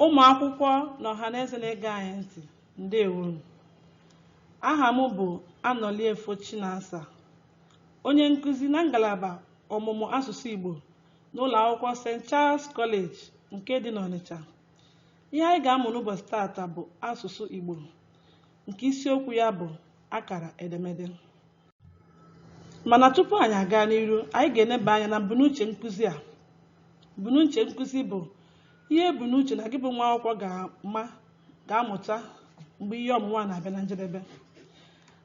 ụmụ akwụkwọ na ọhaneze na-ege anyị ntị ndewonu aha m bụ Anọliefo Chinasa onye nkụzi na ngalaba ọmụmụ asụsụ Igbo n'ụlọ akwụkwọ St. Charles College nke dị n'Ọnịcha ihe anyị ga-amụ n'ụbọchị taata bụ asụsụ Igbo nke isiokwu ya bụ akara edemede mana tupu anyị aga n'iru anyị ga-eneba anya na mbunuche nkụzi a mbunuche nkụzi bụ ihe e bu n'uche na gị bụ nwa akwụkwọ ga-ama ga-amụta mgbe ihe ọmụmụ a na-abịa na njedebe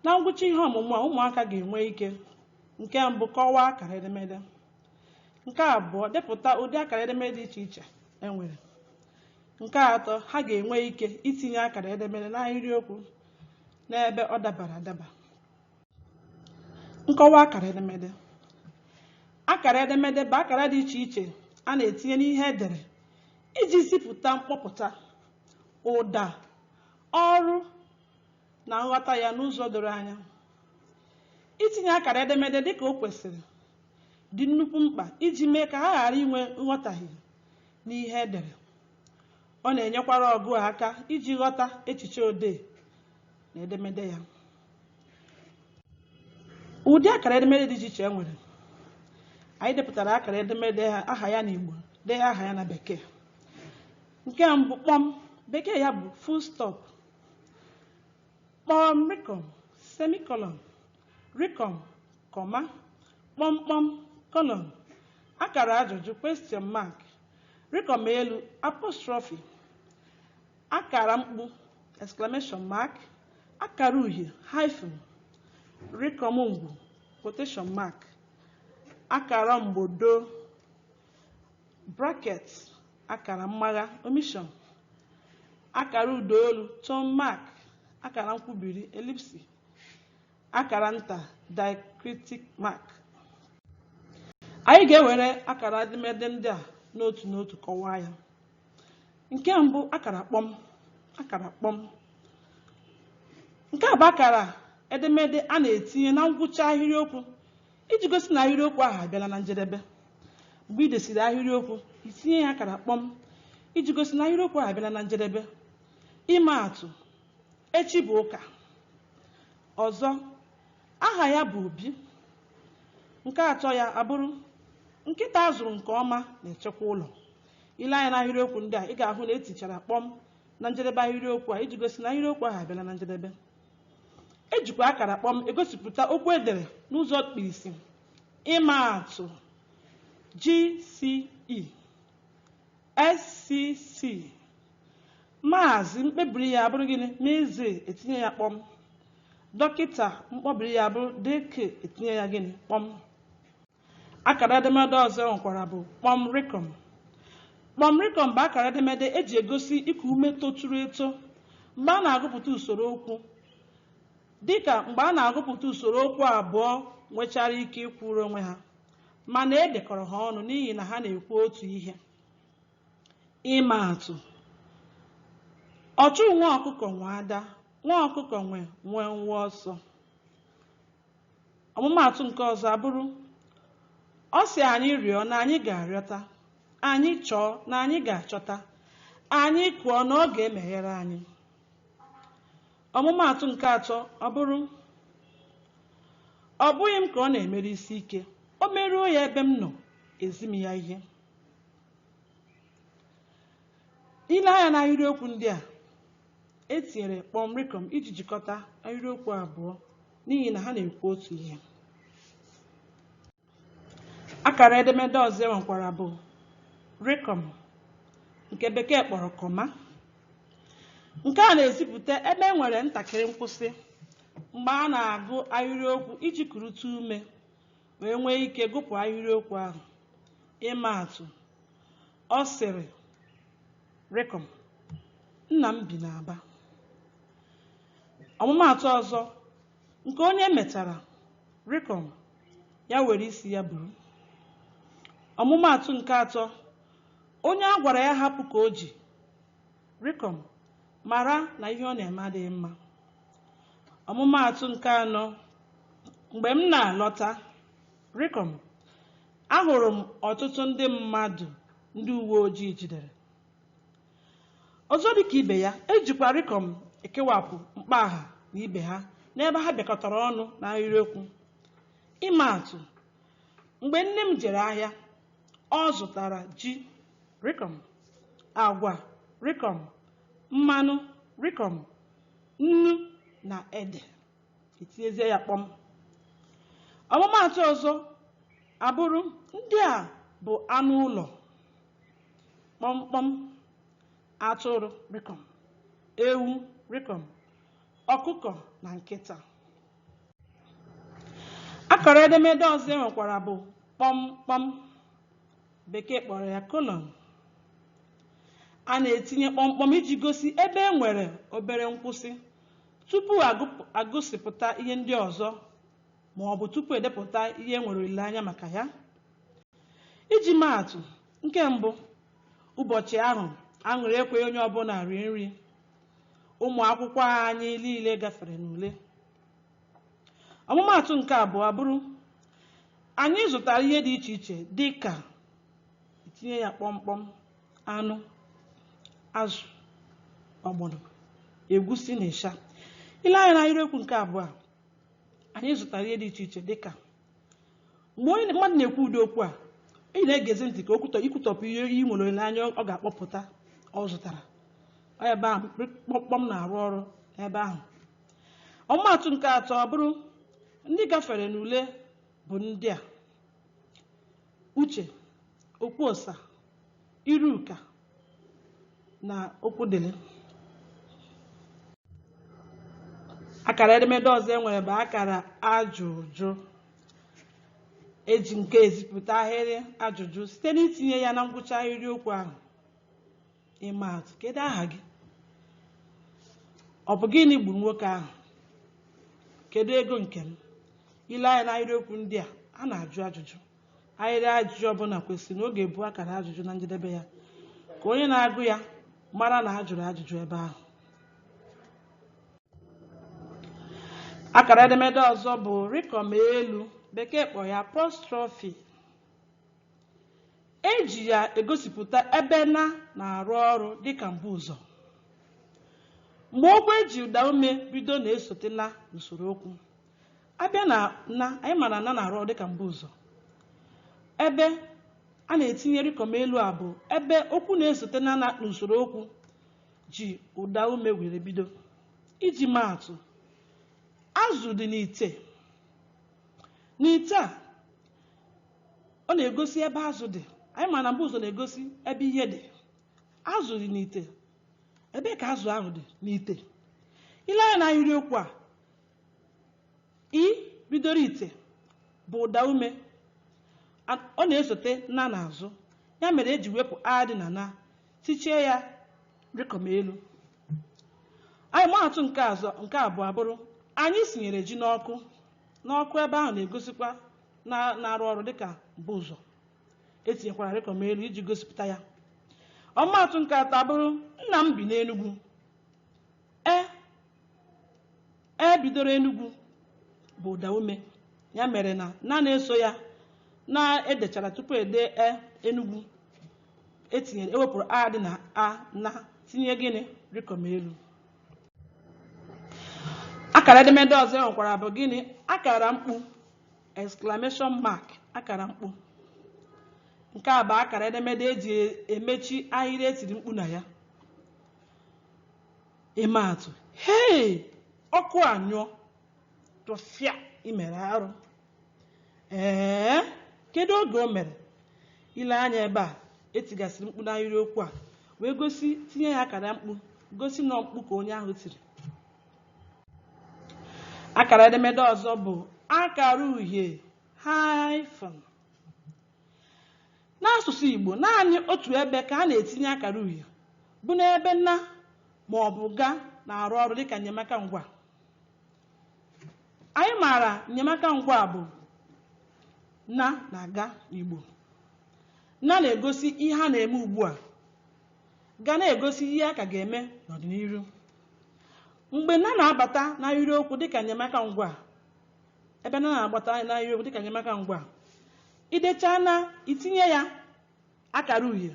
na ngwụcha ihe ọmụmụ a ụmụaka ga-enwe ike nke mbụ kọwaa akara edemede nke abụọ depụta ụdị akara edemede dị iche iche e nwere nke atọ ha ga-enwe ike itinye akara edemede n'ahịrịokwu n'ebe ọ dabara adaba nkọwa akara edemede akara edemede bụ akara dị iche iche a na-etinye n'ihe e dere iji zipụta mkpọpụta ụda ọrụ na nghọta ya n'ụzọ doro anya itinye akara edemede dịka o kwesịrị dị nnukwu mkpa iji mee ka ha ghara inwe nghọtahie n'ihe e dere ọ na-enyekwara ọgụụ aka iji ghọta echiche odee na edemede ya ụdị akara edemede dị iche iche e nwere anyị depụtara akara edemede aha ya n'Igbo dee aha ya na bekee nke mbụ kpọm bekee ya bụ full stop kpọm rịkọm semicolon rịkọm comma kpọmkpọm colon akara ajụjụ question mark rịkọm elu apostrophe akara mkpu exclamation mark akara uhie hyphen rịkọm ngwu quotation mark akara mgbodo bracket akara mmagha omission akara ụda olu tone mark akara nkwubiri ellipsis akara nta diacritic mark anyị ga-ewere akara edemede ndị a n'otu n'otu kọwaa ya nke mbụ akara kpọm akara kpọm nke a bụ akara edemede a na-etinye na ngwụcha ahịrịokwu iji gosi na ahịrịokwu ahụ abịala na njedebe mgbe i desịrị ahịrịokwu i tinye ya akara kpọm iji gosi na ahịrịokwu ahụ abịala na njedebe ịma atụ echi bụ ụka ọzọ aha ya bụ Obi nke atọ ya abụrụ nkịta a zụrụ nke ọma na-echekwa ụlọ ile anya n'ahịrịokwu ndị a ị ga-ahụ na etichara kpọm na njedebe ahịrịokwu a iji gosi na ahịrịokwu ahụ abịala na njedebe ejikwa akara kpọm egosipụta okwu edere n'ụzọ mkpirisi ịma atụ GCE SCC maazị mkpebiri ya abụrụ gịnị MZ etinye ya kpọm dọkịta mkpọbiri ya abụrụ DK etinye ya gịnị kpọm Akara edemede ọzọ e nwekwara bụ kpọm rịkọm. Kpọm rịkọm bụ akara edemede e ji egosi iku ume toturu eto mgbe a na-agụpụta usoro okwu, dịka mgbe a na-agụpụta usoro okwu abụọ nwechara ike ịkwụrụ onwe ha, mana e dekọrọ ha ọnụ n'ihi na ha na-ekwu otu ihe. Ịma atụ, Ọchụ nwa ọkụkọ nwe ada, nwa ọkụkọ nwe nwenwe ọsọ. ọmụmaatụ nke ọzọ abụrụ ọ sị anyị rịọ na anyị ga-arịọta anyị chọọ na anyị ga-achọta anyị kụọ na ọ ga-emeghere anyị ọmụmaatụ nke atọ abụrụ ọ bụghị m ka ọ na-emere isi ike o meruo ya ebe m nọ ezi m ya ihe ile anya na ahịrịokwu ndị a etinyere kpọm rịkọm iji jikọta ahịrịokwu abụọ n'ihi na ha na-ekwu otu ihe akara edemede ọzọ e nwekwara bụ rịkọm nke bekee kpọrọ comma nke a na-ezipụta ebe e nwere ntakịrị nkwụsị mgbe a na-agụ ahịrịokwu iji kurute ume wee nwee ike gụpụ ahịrịokwu ahụ ịma atụ Ọ sịrị, Rịkọm, nna m bi n'Aba. Ọmụmaatụ ọzọ nke onye metara rịkọm ya were isi ya buru. Ọmụmaatụ nke atọ onye a gwara ya hapụ ka o ji rịkọm mara na ihe ọ na-eme adịghị mma. Ọmụmaatụ nke anọ mgbe m na-alọta Rịkọm, Ahụrụ m ọtụtụ ndị mmadụ ndị uwe ojii jidere. Ọzọ dị ka ibe ya, e jikwa rịkọm ekewapụ mkpọaha na ibe ha n'ebe ha bịakọtara ọnụ n'ahịrịokwu. Ịma atụ, Mgbe nne m jere ahịa, ọ zụtara ji, rịkọm, agwa, rịkọm, mmanụ, rịkọm, nnu na ede. etinyezie ya kpọm ọmụmaatụ ọzọ abụrụ ndị a bụ anụ ụlọ kpọmkpọm atụrụ rịkọm ewu rịkọm ọkụkọ na nkịta akara edemede ọzọ e nwekwara bụ kpọmkpọm bekee kpọrọ ya colon a na-etinye kpọmkpọm iji gosi ebe e nwere obere nkwụsị Tupu a gụsịpụta ihe ndị ọzọ ma ọ bụ tupu e depụta ihe e nwere olileanya maka ya. Iji maa atụ, nke mbụ, ụbọchị ahụ aṅụrị ekweghị onye ọbụla rie nri. Ụmụ akwụkwọ anyị niile gafere n'ule. Ọmụmaatụ nke abụọ abụrụ, anyị zụtara ihe dị iche iche dị ka i tinye ya kpọmkpọm. anụ azụ ọgbọnọ egwusi na ịsha i lee anya n'ahịrịokwu nke abụọ a anyị zụtara ihe dị iche iche dịka mgbe onye mmadụ na-ekwu ụdị okwu a ị na-egezi ntị ka ikwutọpụ ihe ị nwere olileanya ọ ga-akpọpụta ọ zụtara Ọ ebe ahụ kpọmkpọm na-arụ ọrụ ebe ahụ ọmụmaatụ nke atọ ọ bụrụ ndị gafere n'ule bụ ndị a Uche, Okwuosa, Iruka na Okwudili. Akara edemede ọzọ e nwere bụ akara ajụjụ. E ji nke ezipụta ahịrị ajụjụ site n'itinye ya na ngwụcha ahịrịokwu ahụ. ịma atụ kedu aha gị ọ bụ gịnị gburu nwoke ahụ kedu ego nke m i lee anya n'ahịrịokwu ndị a a na-ajụ ajụjụ ahịrị ajụjụ ọbụla kwesịrị na ọ ga-ebu akara ajụjụ na njedebe ya ka onye na-agụ ya mara na a jụrụ ajụjụ ebe ahụ akara edemede ọzọ bụ rịkọm elu bekee kpọ ya apostrophe E ji ya egosipụta ebe na na-arụ ọrụ dịka mbuụzọ. Mgbe okwu e ji ụdaume bido na-esote na n'usoro okwu. A bịa na na, anyị mara na na na-arụ ọrụ dịka mbuụzọ. Ebe a na-etinye rịkọm elu a bụ ebe okwu na-esote na na n'usoro okwu ji ụdaume were bido. Iji maa atụ, azụ dị n'ite. N'ite a, ọ na-egosi ebe azụ dị anyị ma na mbuụzọ na-egosi ebe ihe dị azụ dị n'ite ebe ka azụ ahụ dị n'ite ile anya na ahịrịokwu a i bidoro ite bụ ụda ume a- ọ na-esote na n'azụ ya mere eji wepụ a dị na na tichie ya rịkọm elu anyị maatụ nke abụọ abụrụ anyị sinyere ji n'ọkụ n'ọkụ ebe ahụ na-egosikwa na-arụ ọrụ dịka mbuụzọ etinyekwara rịkọm elu iji gosipụta ya ọmụmaatụ nke atọ abụrụ nna m bi n'enugwu e e bidoro enugwu bụ ụda ume ya mere na na na-eso ya na edechara tupu ede e enugwu etinyere ewepụrụ a dị na a na tinye gịnị rịkọm elu akara edemede ọzọ e nwekwara bụ gịnị akara mkpu exclamation mark akara mkpu nke a bụ akara edemede eji emechi ahịrị etiri mkpu na ya ịma atụ hei ọkụ anyụọ tụfịa imere arụ ee kedu oge o mere ile anya ebe a etigasịrị mkpu n'ahịrịokwu a wee gosi tinye ya akara mkpu gosi na mkpu ka onye ahụ tiri akara edemede ọzọ bụ akara uhie hyphen n'asụsụ Igbo naanị otu ebe ka a na-etinye akara uhie bụ n'ebe na ma ọ bụ ga na-arụ ọrụ dịka nnyemaka ngwa anyị maara nnyemaka ngwa bụ na na ga n'Igbo na na-egosi ihe a na-eme ugbu a ga na-egosi ihe a ka ga-eme n'ọdịnihu mgbe na na-abata n'ahịrịokwu dịka nnyemaka ngwa ebe na na-abata n'ahịrịokwu dịka nnyemaka ngwa idechaa na itinye ya akara uhie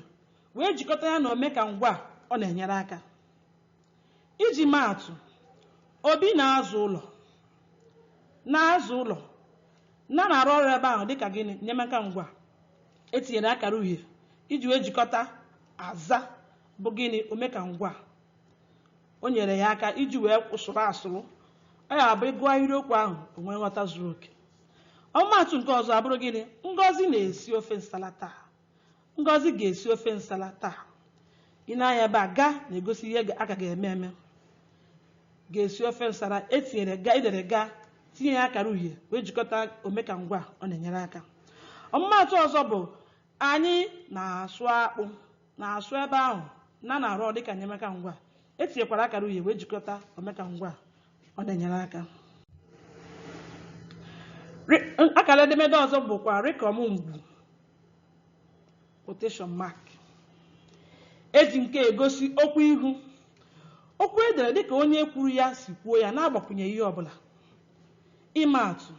wee jikọta ya na omeka ngwa ọ na-enyere aka iji maa atụ obi na-aza ụlọ na-aza ụlọ na na-arụ ọrụ ebe ahụ dịka gịnị nnyemaka ngwa etinyere akara uhie iji wee jikọta aza bụ gịnị omeka ngwa o nyere ya aka iji wee kwụsụrụ asụrụ ọ ya bụ ịgụọ ahịrịokwu ahụ o nwee nghọta zuru oke ọmụmaatụ nke ọzọ abụrụ gịnị ngozi na-esi ofe nsala taa ngozi ga-esi ofe nsala taa ile anya ebe a ga na-egosi ihe a ka ga-eme eme ga-esi ofe nsala etinyere ga edere ga tinye ya akara uhie wee jikọta omeka ngwa ọ na-enyere aka ọmụmaatụ ọzọ bụ Anyị na-asụ akpụ na-asụ ebe ahụ na na-arụ ọrụ dịka enyemaka ngwaa. E tinyekwara akara uhie wee jikọta omeka ngwaa ọ na-enyere aka. Rị- Akara edemede ọzọ bụkwa rịkọm ngwu quotation mark. Eji nke egosi okwu ihu. Okwu edere dịka onye kwuru ya si kwuo ya na-agbakwunye ihe ọbụla. Ịma atụ,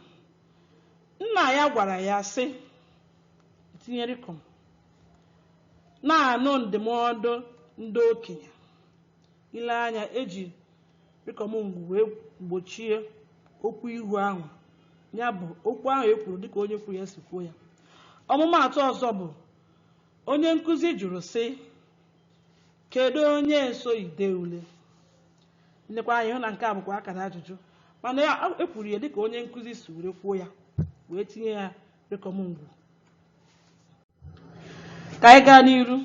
nna ya gwara ya sị tinye rịkọm na-anụ ndụmọdụ ndị okenye i lee anya eji rịkọm ngwu wee gbochie okwu ihu ahụ ya bụ okwu ahụ e kwuru dịka onye kwuru ya si kwuo ya ọmụmaatụ ọzọ bụ onye nkụzi jụrụ sị kedu onye so ide ule i lekwa anya hụ na nke a bụkwa akara ajụjụ mana e kwuru ya dịka onye nkụzi si were kwuo ya wee tinye ya Rịkọm ngwu. Ka anyị gaa n'iru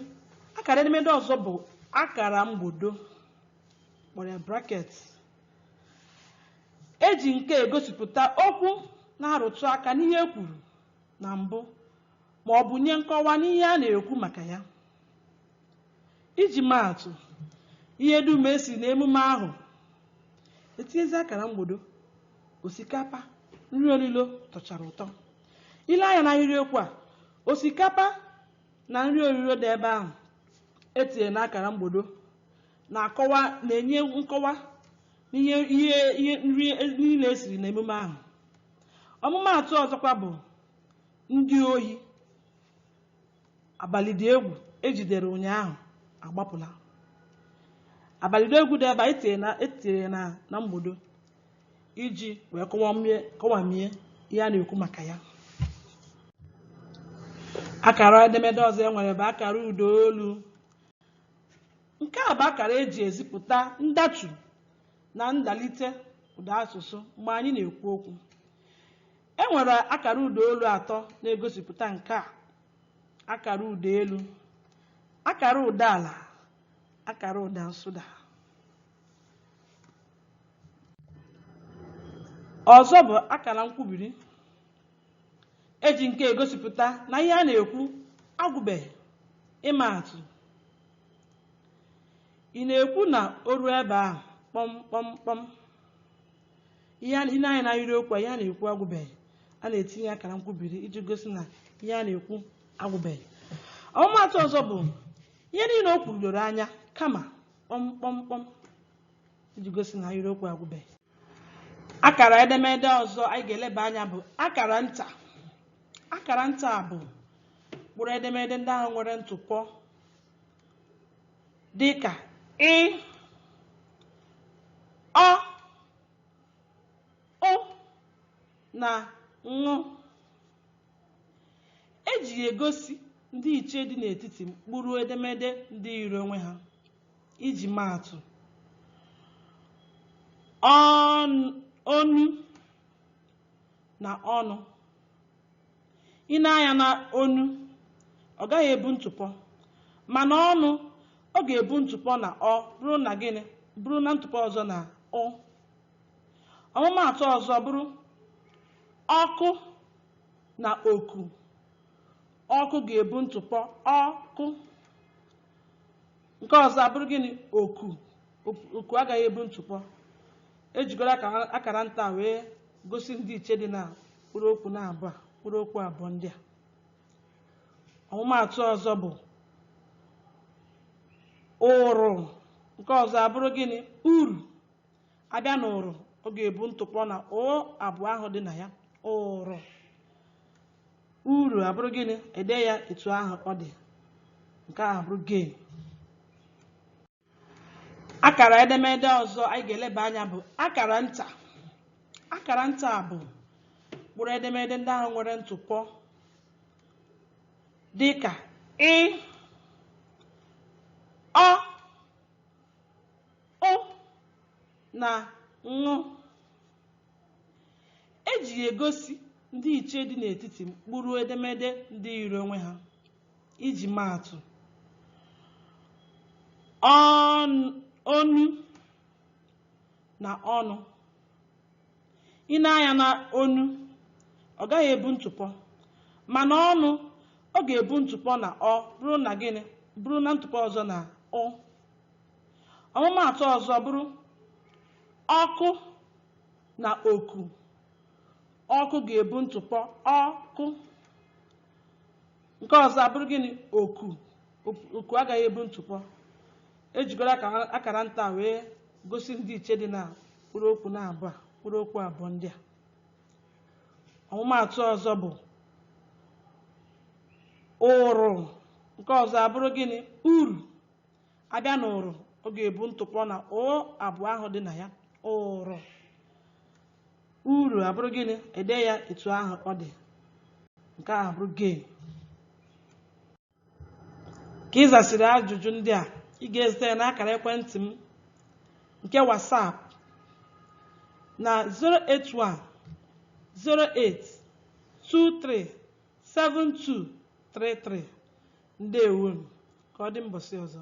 akara edemede ọzọ bụ akara mgbodo kpọrọ ya bracket eji nke egosipụta okwu na-arụtụ aka n'ihe e kwuru na mbụ ma ọ bụ nye nkọwa n'ihe a na-ekwu maka ya Iji maa atụ, ihe dum e siri n'emume ahụ etinyezi akara mgbodo, osikapa, nri olilo tọchara ụtọ. I lee anya n'ahịrịokwu a, osikapa na nri olilo dị ebe ahụ e tinyere n'akara mgbodo na-akọwa na-enye nkọwa n'ihe ihe ihe nri niile e siri n'emume ahụ. Ọmụmaatụ ọzọkwa bụ ndị ohi. abalị dị egwu ejidere ụnyaahụ agbapụla abalị dị egwu dị ebe anyị tinyere na- etinyere na na mgbodo iji wee kọwamie kọwamie ihe a na-ekwu maka ya akara edemede ọzọ e nwere bụ akara ụda olu nke a bụ akara eji ezipụta ndatu na ndalite ụda asụsụ mgbe anyị na-ekwu okwu E nwere akara ụdaolu atọ na-egosipụta nke a. Akara ụda elu, akara ụda ala, akara ụda nsụda. Ọzọ bụ akara nkwubiri. E ji nke egosipụta na ihe a na-ekwu agwụbeghị. Ịma atụ, ị na-ekwu na o ruo ebe ahụ kpọm kpọm kpọm. ihe a- i lee anya na ahịrịokwu a ihe a na-ekwu agwụbeghị a na-etinye akara nkwubiri iji gosi na ihe a na-ekwu agwụbeghị ọmụmaatụ ọzọ bụ ihe niile o kwuru doro anya kama kpọmkpọmkpọm iji gosi na ahịrịokwu agwụbeghị akara edemede ọzọ anyị ga-eleba anya bụ akara nta akara nta bụ mkpụrụ edemede ndị ahụ nwere ntụpọ dịka ị ọ ụ na ṅụ e ji ya egosi ndịiche dị n'etiti mkpụrụ edemede ndị yiri onwe ha iji maa atụ onu na ọnụ i nee anya na onu ọ gaghị ebu ntụpọ mana ọnụ ọ ga-ebu ntụpọ na ọ buru na gịnị buru na ntụpọ ọzọ na ụ ọmụmaatụ ọzọ bụrụ ọkụ na oku ọkụ ga-ebu ntụpọ ọkụ nke ọzọ abụrụ gịnị oku oku agaghị ebu ntụpọ e jigoro akara nta wee gosi ndịiche dị na mkpụrụ okwu naabọ mkpụrụ okwu abụọ ndị a ọmụmaatụ ọzọ bụ ụrụ nke ọzọ abụrụ gịnị uru a bịa na ụrụ ọ ga-ebu ntụpọ na ụ abụọ ahụ dị na ya ụrụ uru abụrụ gịnị e dee ya etu ahụ ọ dị nke ahụ bụrụ gain akara edemede ọzọ anyị ga-eleba anya bụ akara nta akara nta bụ mkpụrụ edemede ndị ahụ nwere ntụpọ dị ka ị ọ ụ na ṅụ E ji ya egosi ndịiche dị n'etiti mkpụrụ edemede ndị yiri onwe ha. Iji maa atụ, onu na ọnụ. I nee anya na onu, ọ gaghị ebu ntụpọ, mana ọnụ, ọ ga-ebu ntụpọ na ọ buru na gịnị buru na ntụpọ ọzọ na ụ. ọmụmaatụ ọzọ bụrụ ọkụ na oku ọkụ ga-ebu ntụpọ ọkụ nke ọzọ abụrụ gịnị oku oku agaghị ebu ntụpọ e jigoro akara nta wee gosi ndịiche dị na mkpụrụ okwu naabọ mkpụrụ okwu abụọ ndị a ọmụmaatụ ọzọ bụ ụrụ nke ọzọ abụrụ gịnị uru a bịa na ụrụ ọ ga-ebu ntụpọ na ụ abụọ ahụ dị na ya ụrụ uru abụrụ gịnị e dee ya etu ahụ ọ dị nke ahụ bụrụ gain ka ị zasịrị ajụjụ ndị a ị ga-ezite ya n'akara ekwentị m nke WhatsApp na 081 08 23 72 33 ndewo ka ọ dị mbọsị ọzọ